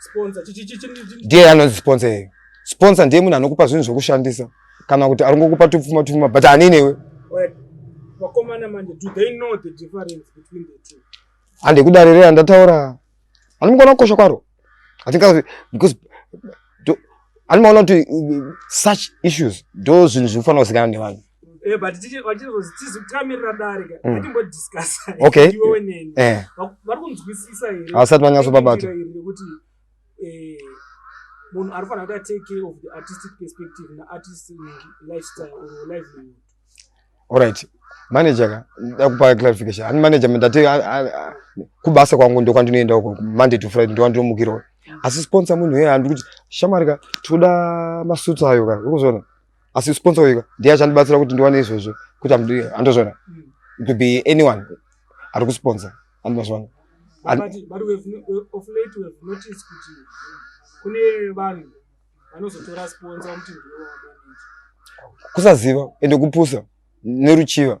Sponsor chichi chichi chichi. Ndiye anonzi sponsor iye. Sponsor ndiye munhu anokupa zvinhu zvekushandisa kana kuti arongokupa tupfuma tupfuma but ani newe. Wait. Vakomana manje do they know the difference between the two? Ande kudarira ndataura. Ani mukona kukosha kwaro. I think because ani maona kuti uh, such issues do zvinhu zvinofanira kuzikanwa nevanhu. Eh, but tichizozitizi kutamirira dare ka mm. atimbodiscassa okay. iwe weneni eh. vari kunzwisisa here havasati vanyatso babata rekuti eh, munhu ari fanira kuti atake care of the artistic perspective naartist lifestyle or livelihood allright manager ka ndakupa clarification ani manager ndati kubasa kwangu ndokwandinoenda uko monday to friday ndokwandinomukirwa mm. asi sponsor munhu yeye handikuti shamari ka tinoda masuits ayo ka urikuzoona asi sponsor wega ndiye achandibatsira kuti ndiwane izvozvo kuti andozvona it could be anyone ari kusponsor andozvona kune vanhu vanozotora sponsor kuti kusaziva ende kupusa neruchiva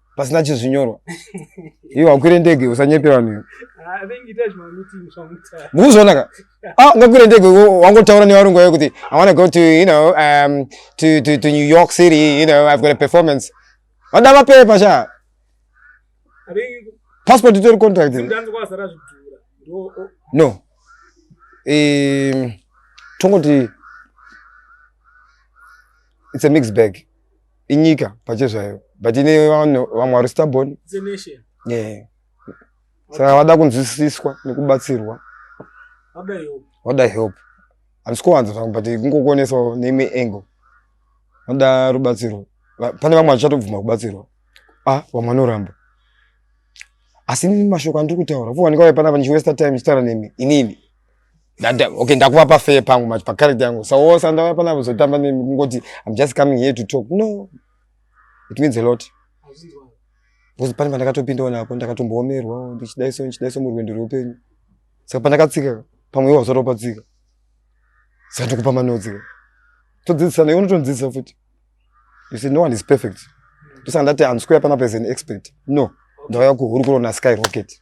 pasina chizvinyorwa iwe wakwire ndege usanyepe vanhu mukuzvionaka ah, ngakwire ndege wangotaura nevarungu vayo kuti i wanna go to you know um, to, to, to new york city you know i've got a performance vada mapepa sha passport itori contract no um, tongoti it's a mixed bag inyika pacho zvayo but ine vanhu vamwe vari stubborn yeah. saka vada kunzwisiswa nekubatsirwa vada help handisi kuwanza zvangu but kungokuonesawo neimwe angle vada rubatsirwa pane vamwe vachatobvuma kubatsirwa a ah, vamwe vanoramba asi mashoko andiri kutaura vuwanika waipanapa ndichiwesta time ndichitaura nemi inini Dada, okay, ndakuva pa fair pangu manje pa character yangu. So wose andava pana kuzotamba ne kungoti I'm just coming here to talk. No. It means a lot. Bozi pani pandakatopinda ona apo ndakatomboomerwa ndichidai so ndichidai so murwendo rweupenyu. Saka pandakatsika pamwe iwo wazotopa tsika. Saka tokupa manodzi. Todzidzisana iwe unotondidzidzisa futi. You see no one is perfect. Tosanga ndati I'm square pana as an expert. No. Ndauya kuhurukuro na Sky Rocket.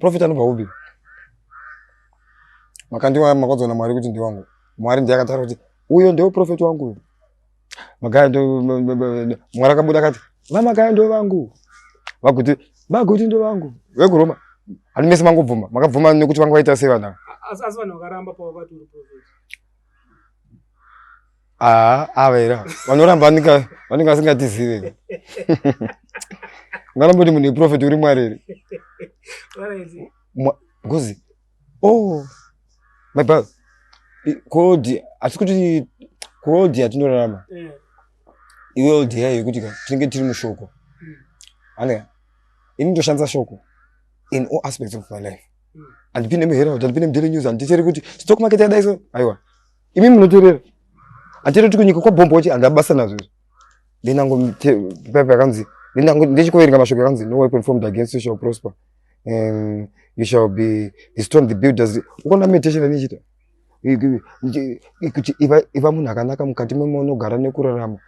Profit anobva kupi? Makandiwa makodzona Mwari kuti ndiwangu. Mwari ndiye akataura kuti uyo ndiwo profit wangu uyo. Magaya ndo Mwari akabuda akati vamagaya ndo vangu. Vaguti vaguti ndo vangu. Vekuroma. Ani mese mangobvuma. Makabvuma nekuti vanga vaita sei vanhu. Asi vanhu vakaramba pavakati uri profit. Haa ava era vanoramba vanenge vasingatizive ngaramboti munhu iprofeti uri mwari iri ngozi o oh, my bro kodi asi kuti kodi yatinorarama eh. iwe old yayo yekuti ka tinenge tiri mushoko hmm. anea ini ndoshandisa shoko in all aspects of my life hmm. andipinde muherald andipinde mudely news andicheri kuti stock market yadaiso aiwa imi munoterera hatiri kuti kunyika kwabhomboche handina basa nazvo izvi ndenango pepa yakanzi ndechikoverenga mashoko yakanzi no weapon formed against you shall prosper um, you shall be destroyed the builders ukaona meditation anichita kuti iva munhu akanaka mukati memunogara nekurarama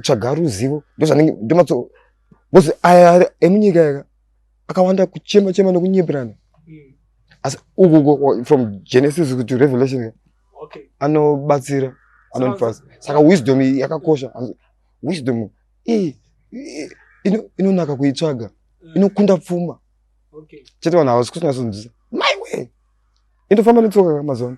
tsvaga ruzivo ndozvanenge ndomatso bcause aya emunyika yaka akawanda kuchema chema nokunyeperana mm. asi uku from genesis to revelation okay. anobatsira anonifasa saka wisdom yakakosha wisdom iyi inonaka kuitsvaga mm. inokunda pfuma okay. chete vanhu havasi kusinasonzisa maiwe indofamba netsoka mazuva ano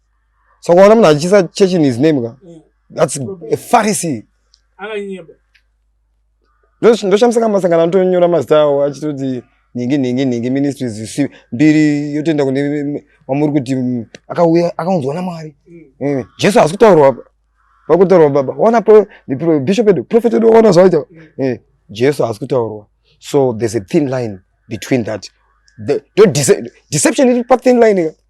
so ukaona munhu achiisa church in his name ka mm. that's a pharisee akanyeba ndoshamisika masangano anotonyora mazita awo achitoti nhingi nhingi nhingi ministries zisi mbiri yotoenda kune wamuri kuti mm, akauya akaunzwa namwari mm. mm. jesu haasi kutaurwa vari kutaurwa baba wana bishop edu profet edu waona zvaita eh, jesu haasi kutaurwa so there's a thin line between that the, the dece deception iri pathin line ka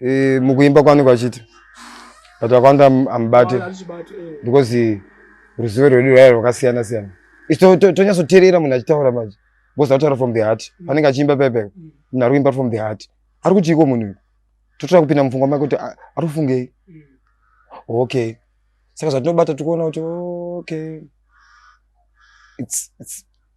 e, mukuimba kwaanenge achiti but vakawanda amubate eh. because ruzivo rwedu rwaya rwakasiyana siyana isu tonyatsoteerera munhu achitaura manje because ataura from the heart mm. anenge achiimba pepe mm. munhu ari kuimba from the heart ari kutiiko munhu uyu totoda kupinda mupfungwa make kuti ah, ari kufungei mm. okay saka zvatinobata tikuona kuti okay it's, it's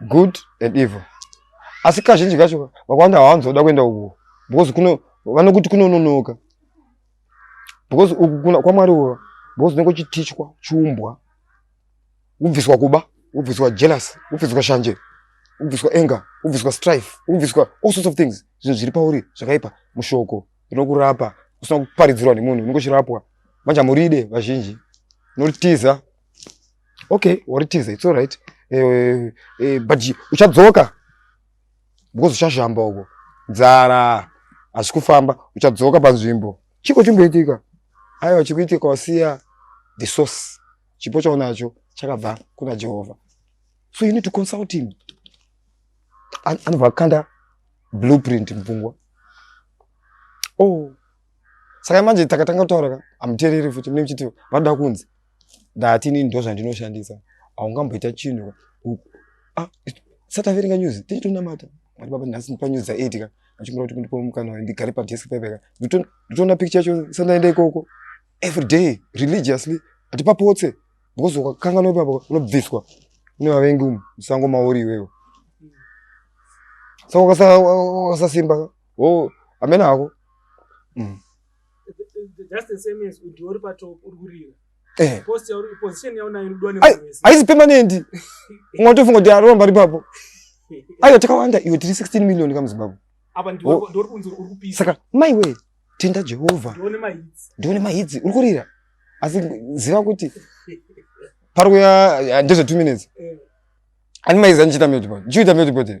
good and evil asi kazhinji kacho vakawanda hawanzoda kuenda uko because kuno vanokuti kunononoka because uku kwamwari uko because unenge uchitichwa chiumbwa ubviswa kuba ubviswa jealous ubviswa shanje ubviswa anger ubviswa strife ubviswa all sorts of things zvinhu zviri pauri zvakaipa mushoko rinokurapa usina kuparidzirwa nemunhu unenge uchirapwa manje hamuride vazhinji unotiza okay waritiza its alright eh, eh, but uchadzoka because uchazhamba uko nzara hazvi kufamba uchadzoka panzvimbo chiko chimboitika aiwa chikuitika wasiya the source chipo chaunacho chakabva kuna jehovha so you need to consult him anobva akanda blueprint mupfungwa oh saka manje takatanga kutaura ka amuteereri futi mune muchiti vanoda kunzi ndati inini ndozvandinoshandisa haungamboita chinhu ah, sataverenga news tichitonamata mari baba nhasi panews dzaeid ka achingura kuti kundipo mukana wayo ndigare padesk pepeka nditoona picture yacho sandaenda ikoko every day religiously hatipapotse because ukakanganwa ipapa unobviswa une vavengi umu musango mauri iwewo saka ukasasimba o amene hako mm. just the same as udiwa uri patop uri kurira eh. post yauri position yauna irudiwa nemunhu wese haisi permanent umwe atofunga kuti aromba ripapo aiwa takawanda iwe tiri 16 million kamuzimbabwe apa ndiwe oh. ndiwe kunzi uri kupisa saka mai we tenda jehovha ndione mahits ndione mahits uri kurira asi ziva kuti pari kuya eh, ndezve 2 minutes eh. ani maiza ndichita metipo ndichiita metipo tiri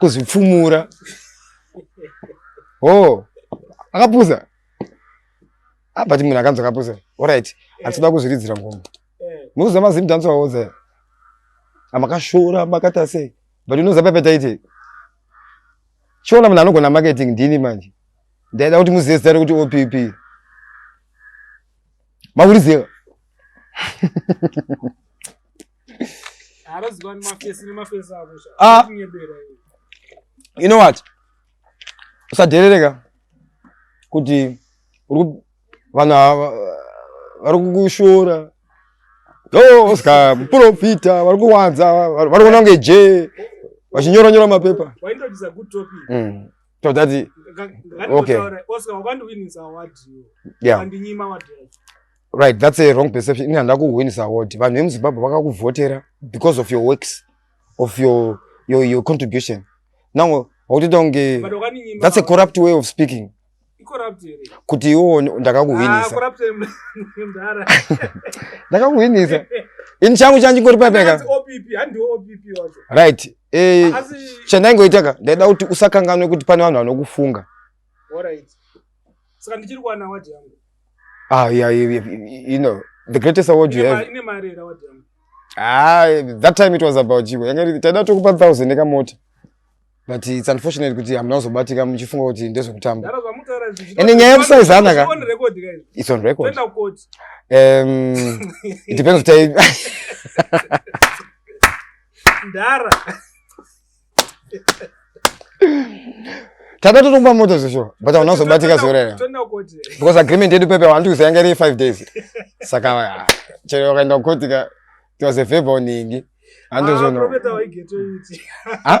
kuzvipfumura oh akapusa ah, but munhu akanzi akapusa orit atsoda kuzviridzira ngoma nokuziva mazim danso aoza amakashora makata sei but unoziva pepe taite chiona munhu anogona marketing ndini manje ndaida kuti muzive zita rekuti opp makuriziva Ah. you know what usadherereka kuti vanhu ava vari kukushora o ska muprofita vari kuwanza vari kuona kunge je vachinyora nyora mapepa mm. so that okay yeah. right that's a wrong perception ini handina kuhwinisa wodi vanhu vemuzimbabwe vakakuvhotera because of your works of your, your, your contribution now wakutoita kunge that's a corrupt way of speaking kuti iwo ndakakuhwinisa ah, ndakakuhwinisa ini changu changu chingori paipeka right eh, chandaingoitaka ndaida kuti usakanganwe kuti pane vanhu vanokufunga saka ndichiri kuwana wadi yangu Ah, yeah, you, you, you know, the greatest award you have. Ine mari here award yangu? Ah, that time it was about you. Yanga iri taida tokupa 1000 eka mota. But it's unfortunate kuti hamuna kuzobatika muchifunga kuti ndezvekutamba. Ndara zvamutaura izvi. Ende nyaya yekusaiza ana ka. On record ka izvi. It's on record. Tenda court. Um, it depends kuti Ndara. takati tokupa moto zvisho but hauna kuzobatika zuva rero because agreement yedu pepe wani tikuzi yanga iri five days saka ah, chero wakaenda kukoti ka it was a favor uningi handizvono ah,